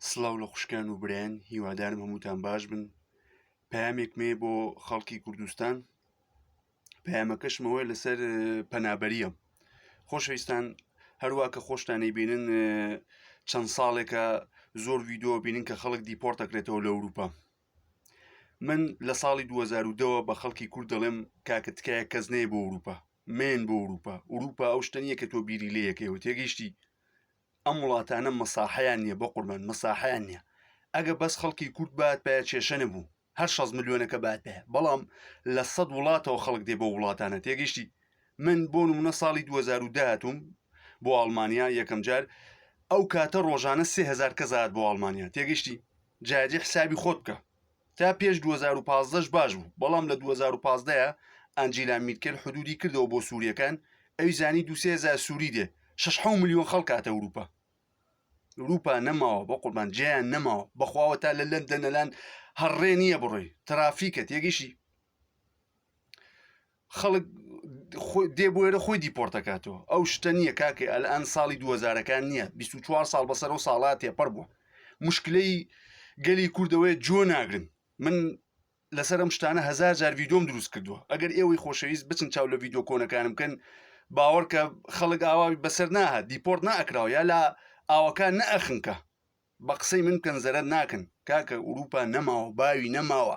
سڵاو لە خوشکان و برایان هیوادارم هەمووتان باش بن پامێکمێ بۆ خەڵکی کوردستان پامەکەشمەوەی لەسەر پەنابەریە خۆشەویستان هەروە کە خۆشتانی بینن چەند ساڵێکە زۆر ویددیو بینن کە خەڵک دیپۆرتەکرێتەوە لە ئەوروپا من لە ساڵی 2010ەوە بە خەڵکی کورد دەڵێم کاکە تکایە کەس نەیە بۆ ئەوروپا مێن بۆ ئەوروپا ئەوروپا ئەو شتەنیە کە تۆ بیری لەیەکەوە تێگەیشتی ئەم وڵاتانە مەساحەیان نیە بە قوربان مەساحەیان نیە ئەگە بەس خەڵکی کورد بات پێ کێشە نەبوو هەر 6 ملیۆنەکە بات پێ بەڵام لە سەد وڵاتەوە خەڵک دێ بۆ وڵاتانە تێگەشتی من بۆ نمونە ساڵی 2010 هاتووم بۆ ئەڵمانیا یەکەم جار ئەو کاتە ڕۆژانە سهزار کەزات بۆ ئەڵمانیا تێگەشتی جاجی حسابی خۆت بکە تا پێش دوو هەزار و پازدە ش باش بوو بەڵام لە دوو هەزار و پازدە ە ئانجیلا میرکێل حدودی کردەوە بۆ سوریەکان ئەوی زانی دوو سێ هەزار سوری دێ شەش حەو ملیۆن خەڵک هاتە ئوروپا ئوروپا نەماوە بە قوربان جێیان نەماوە بەخواوە تا لە لەندەنەلان هەڕێ نییە بڕۆی ترافیکە تێگەیشتی خەڵک دێ بۆێرە خۆی دیپۆرتەکاتەوە ئەو شتە نییە کاکە ئەلان ساڵی دوهزارەکان نییە 24 ساڵ بەسەر و ساڵات تێپەر بووە مشکلەی گەلی کوردەوەی جۆ ناگرن من لەسەر ئەم شتانە هزار جار ویدۆم دروست کردووە ئەگەر ئێوەی خۆشەویست بچن چاو لە ویددیو کۆنەکانم بکەن باوەڕکە خەڵک ئاواوی بەسەر ناهات دیپۆرت ناکراوە یا لە ئاوەکان نەخنکە بە قسەی من بکەن زەرەر ناکەن کاکە ئوروپا نەماوە باوی نەماوە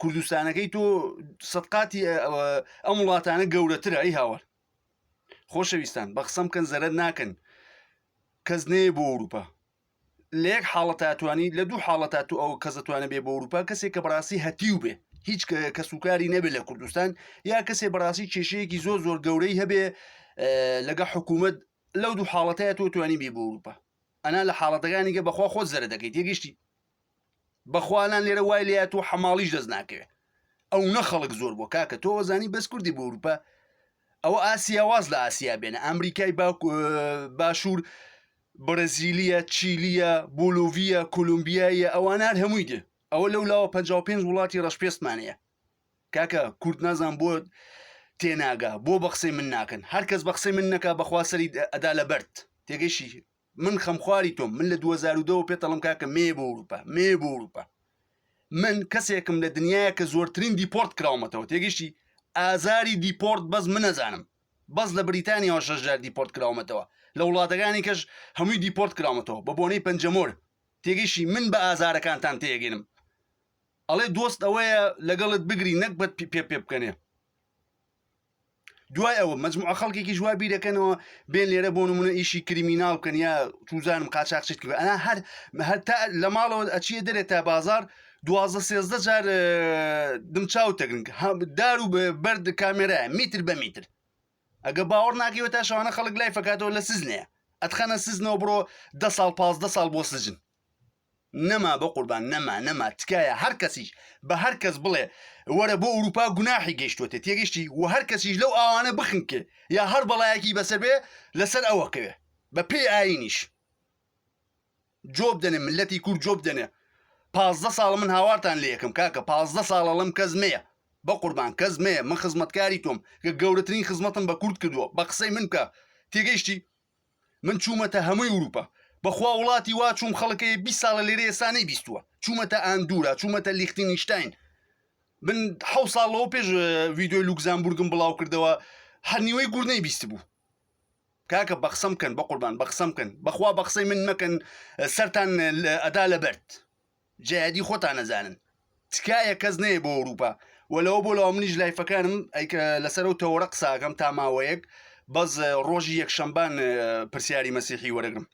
کوردستانەکەی تۆ سەدقاتی ئەم وڵاتانە گەورەترە ئەی هاوار خۆشەویستان بە قسەم کەن زەرەر ناکەن کەس نێ بۆ ئەوروپا لە یەک حاڵە تاتوانی لە دوو حاڵە تا تو ئەو کەس دەتوانە بێ بۆ ئەوروپا کەسێک کە بەڕاستی هەتیو بێ هیچ کەسوکاری نەبێت لە کوردستان یا کەسێ بەڕاستی کێشەیەکی زۆر زۆر گەورەی هەبێ لەگە حکوومەت لەو دوو حاڵەتەیە تۆ توانی بێ بۆ ئەوروپا ئەنا لە حاڵەتەکانیگە بەخوا خۆت زەرە دەکەیت یەگەشتی بەخوا ئەلان لێرە وای لێ هاتووە حەماڵیش دەست ناکەوێ ئەونە خەڵک زۆر بۆ کاکە تۆ وەزانی بەس کوردی بۆ اروپا ئەوە ئاسیا واز لە ئاسیا بێنە ئەمریکای باشوور بەرەزیلیە چیلیە بۆلوڤە کولمبیایە ئەوان هەر هەمووی دێ ئەوە لەو لاوە 55 وڵاتی ڕەشپێستمانەیە کاکە کورد نازان بۆ تێناگا بۆ بەخسەی من ناکەن هەرکەس بەخسەی من نەکا بەخواسەری ئەدا لە بەرد تێگەشی من خەمخواری تۆم من لە 2010 پێ تەڵم کاکە مێ بۆ وروپا مێ بۆ وروپا من کەسێکم لە دنیاە کە زۆرترین دیپۆرت کراومەتەوە تێگەشتی ئازاری دیپۆرت بەس من نەزانم بەس لە بریتانیەوە شەژار دیپۆرت کراومەتەوە لە وڵاتەکانی کەش هەمووی دیپۆرت کراومەتەوە بە بۆنەی پەنجەمۆر تێگەشی من بە ئازارەکانتان تێگەنم ئەڵێ دۆست ئەوەیە لەگەڵت بگری نەک بەت پێ پێ بکەنێ دوای ئەوە مجموعە خەڵکێکیش وا بیرەکەنەوە بێن لێرە بۆ نمونە ئیشی کریمیناڵ بکەن یا توزانم قاچاقچیت کرد ئەنا هەر هەر تا لە ماڵەوە ئەچیە دەرێت تا بازار دوازە سێزدە جار دمچاو تەگرنگ دار و بەرد کامێرای میتر بە میتر ئەگە باوەڕ ناکەوە تا شوانە خەڵک لای فکاتەوە لە سزنەیە ئەتخەنە سزنەوە بڕۆ ده ساڵ پازدە ساڵ بۆ سجن نەما بەقوربان نەما نەما تکایە هەر کەسیش بە هەر کەس بڵێ وەرە بۆ ئەوروپا گوناحی گەیشتوتێت تێگەشتی و هەر کەسیش لەو ئاوانە بخنکێ یا هەر بەڵایەکی بەسەر بێ لەسەر ئەوەکەوێ بە پێی ئاینیش جۆب دەنێ ملەتی کورد جۆب دەنێ پازدە ساڵ من هاوارتان لە یەکەم کاکە پازدە ساڵە لەم کەس مەیە بە قوربان کەس مەیە من خزمەتکاری تۆم کە گەورەترین خزمەتم بە کورد کردووە بە قسەی من بکە تێگەیشتی من چوومەتە هەمووی وروپا بەخوا وڵاتی وا چوم خەڵکەیە بی ساڵە لێرە ئێسانەی بیستووە چوومەتە ئاندورا چوومەتە لیختی نیشتین من ح ساڵەوە پێش ویددیوی لوکزانبورگم بڵاو کردەوە هەر نیوەی گور نەی بیست بوو کاکە بەخسم بکەن بە قوربان بەخسم بکەن بەخوا بەخسەی من مەکەن سەران ئەدا لە بەرد جەیادی خۆتان نەزانن تکایە کەس نەیە بۆ ئەوروپا و لەوە بۆ لەوە منیش لایفەکانم ئەیکە لەسەر و تەوەرە قساکەم تا ماوەیەک بەس ڕۆژی یەکشەمبان پرسیاری مەسیحی وەرەگرم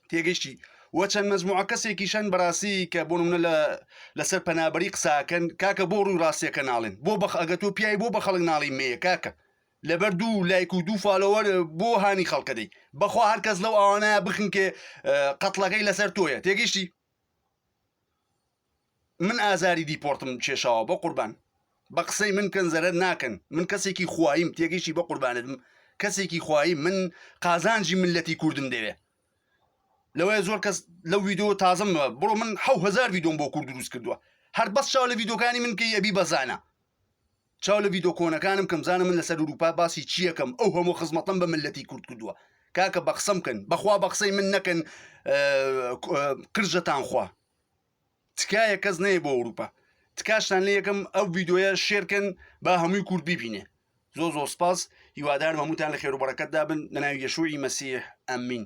تێگەشتی و چەند مەزموع کەسێکیشان بەڕاستی کە بۆ منە لە لەسەر پەنابەری قساکەن کاکە بۆ ڕووی ڕاستیەکە ناڵێن بۆ بەخ ئەگە تۆ پیاوی بۆ بە خەڵک ناڵی مەیە کاکە لەبەر دوو لایک و دوو فالۆوەر بۆ هانی خەڵکە دەی بەخوا هەر کەس لەو ئەوانە بخنکێ قەتڵەکەی لەسەر تۆیە تێگەشتی من ئازاری دیپۆرتم کێشاوە بە قوربان بە قسەی من کەن زەرەر ناکەن من کەسێکی خوایم تێگەشتی بە قوربانتم کەسێکی خوایی من قازانجی ملەتی کوردم دەوێ لەوەیە زۆر کەس لەو ویددیو تازم بڕۆ من حهزار ویدۆم بۆ کورد دروست کردووە هەر بەس چاو لە ویددیوکانی من کە یەبی بەزانە چاو لە ڤیدۆ کۆنەکانم کەم زانە من لەسەر اروپا باسی چیەکەم ئەو هەموو خزمەتەم بە ملەتی کورد کردووە کاکە بە قسەم کەن بەخوا بە قسەی من نەکەن قرژەتان خوا تکایە کەس نەیە بۆ اروپا تکاشتان لە یەکەم ئەو ڤیدۆیە شێرکەن با هەمووی کورد ببینێ زۆ زۆر سپاس هیوادار هەمووتان لە خێرو بەڕەکەتدا بن لە ناوی یەشوعی مەسیح ئەمین